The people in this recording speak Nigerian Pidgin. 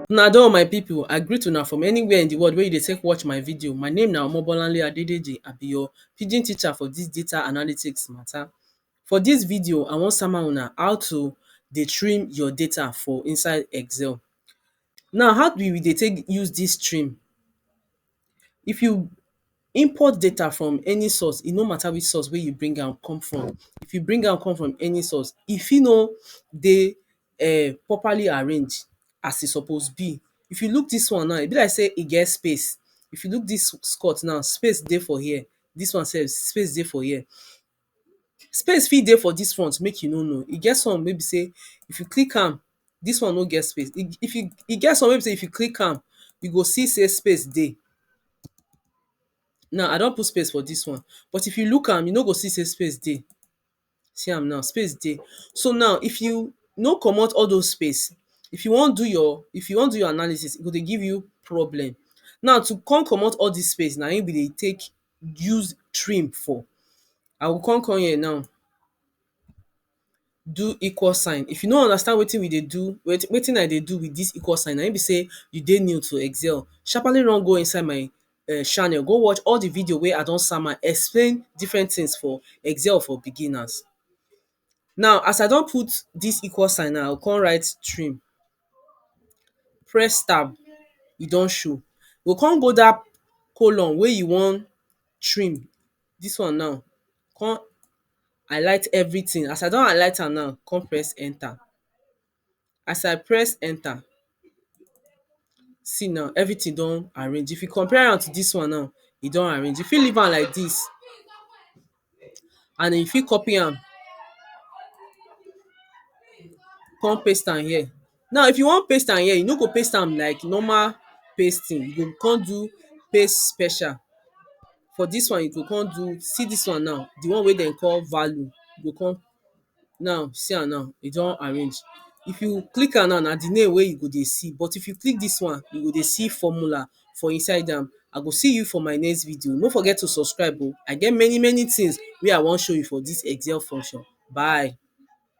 Una don my people, I greet una from anywhere in the world wey you dey take watch my video. My name na Omobolanle Adedeji, I be your pidgin teacher for this data analytics matter. For this video, I wan sama una how to dey trim your data for inside Excel. Now, how we dey take use this trim? If you import data from any source, e no matter which source wey you bring am come from, if you bring am come from any source, e fit no dey um properly arranged as e suppose be. If you look dis one now, e be like sey e get space. If you look dis skirt now, space dey for here, dis one sef, space dey for here. Space fit dey for dis front make you no know. E get some wey be sey if you click am, dis one no get space. E if you e get some wey be sey if you click am, you go see sey space dey. Now, I don put space for dis one. But if you look am, you no go see sey space dey. See am now, space dey. So now, if you no comot all dos space, if you wan do your if you wan do your analysis, e go dey give you problem. Now to con comot all dis space, na im we dey take use trim for I go come come here now do equal sign if you no understand wetin we dey do wetin I dey do with this equal sign na im be sey you dey new to excel sharpaly run go inside my um channel go watch all the video wey I don sama explain different things for excel for beginners Now as I don put dis equal sign now, I go come write trim, press tab, e don show. You go come go dat column wey you wan trim, dis one now, come highlight everything. As I don highlight am now, come press enter. as I press enter see now everything don arrange if you compare am to this one now e don arrange you fit leave am like this and you fit copy am come paste am here now if you wan paste am here you no go paste am like normal pasting you go come do paste special for this one you go come do see this one now the one wey dem call value you go come Now, see am now, e don arrange. If you click am now, na the name wey you go dey see. But if you click dis one, you go dey see formula for inside am. I go see you for my next video. No forget to subscribe oh. I get many many things wey I wan show you for dis excel function. Bye.